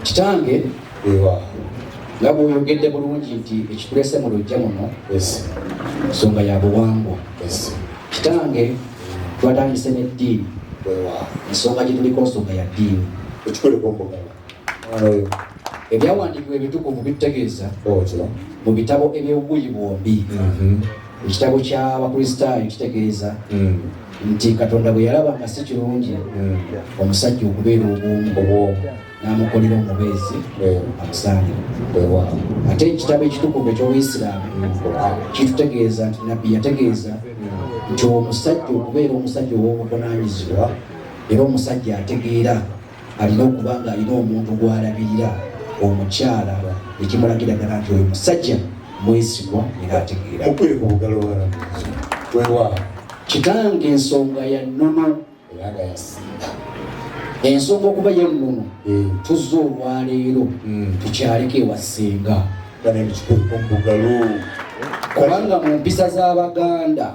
kitange nga bwoyogedde bulungi nti ekikulese mu lujja muno nsonga ya buwangwa kitange twatandise n'eddiini ensonga gyetuliko nsonga ya ddiini ebyawandiikibwa ebitukuvu bitutegeeza mu bitabo eby'obuyi bwombi mm-hmm. Ekitabo ky'Abakristaayo kitegeeza hmm. nti Katonda bwe yalaba nga si kirungi hmm. omusajja okubeera obwomu n'amukolera omubeezi hmm. amusaanira. Ate ekitabo ekitukuvu eky'Obuyisiraamu kitutegeeza nti Nabbi yategeeza nti omusajja okubeera omusajja ow'obuvunaanyizibwa era omusajja ategeera alina okuba ng'alina omuntu gw'alabirira omukyala ekimulagira ddala nti oyo musajja mwesigwa era ategeera kitange ensonga ya nnono ensonga okuba ya nnono eh. tuzza olwaleero hmm. tukyaleko ewasinga kubanga mu mpisa z'abaganda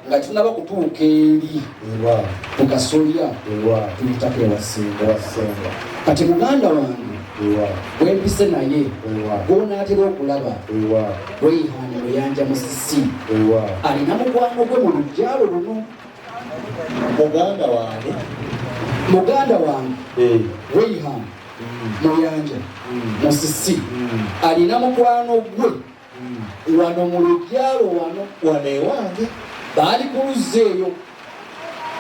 nga tunaba kutuuka eri ku kasolya tuyitako ewasinga kati muganda wange wempise naye gwonaatera okulaba weyihani luyanja musisi alina mukwano gwe mu lujjalo luno muganda wange muganda wange eh. weyihani muyanja mm. musisi mm. alina mukwano gwe wano mu lujjalo wano wano ewange baali ku luzzi eyo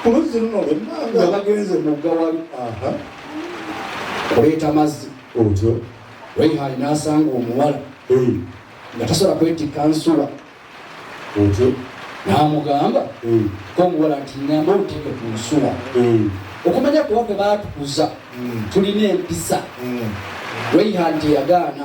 ku luzzi luno lwemmanga nga bagenze mugga wali aha kuleeta mazzi otyo raihani n'asanga omuwala nga tasobola kwetikka nsuwa otyo n'amugamba komuwala nti nyamba oteeke ku nsuwa okumanya kuba kwe baatukuza tulina empisa raihani teyagaana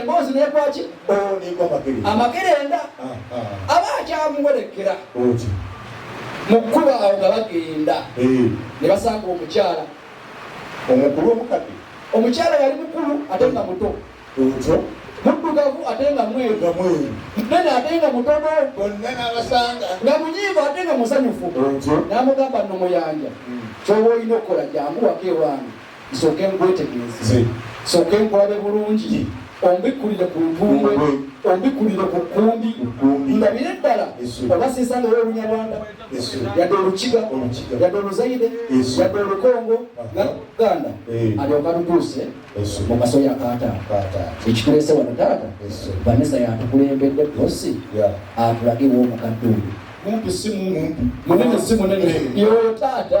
emboozi nekwaki amakerenda aba akyamuwerekera mu kkuba awo nga bagenda eh. ne basanga omukyala omukulu omukadde omukyala yali mukulu ate nga muto muddugavu ate nga mweru munene ate nga mutono nga munyiivu ate nga musanyufu n'amugamba nomuyanja hmm. kyoba olina okukola jangu wako ewange nsooke nkwetegereze nsooke nkulabe bulungi ombikkulire ku ntumbwe ombikkulire ku kkumbi ndabire ddala oba sisangayo olunyarwanda yadde olukiga yadde oluzaire yadde olukongo ganda eh. alyoka lutuuse mu maso ya kaataata ekitulese wano taata vanessa yatukulembedde bosi atulage w'omukadde oyo mumpi si mumpi munene si munene yoyo taata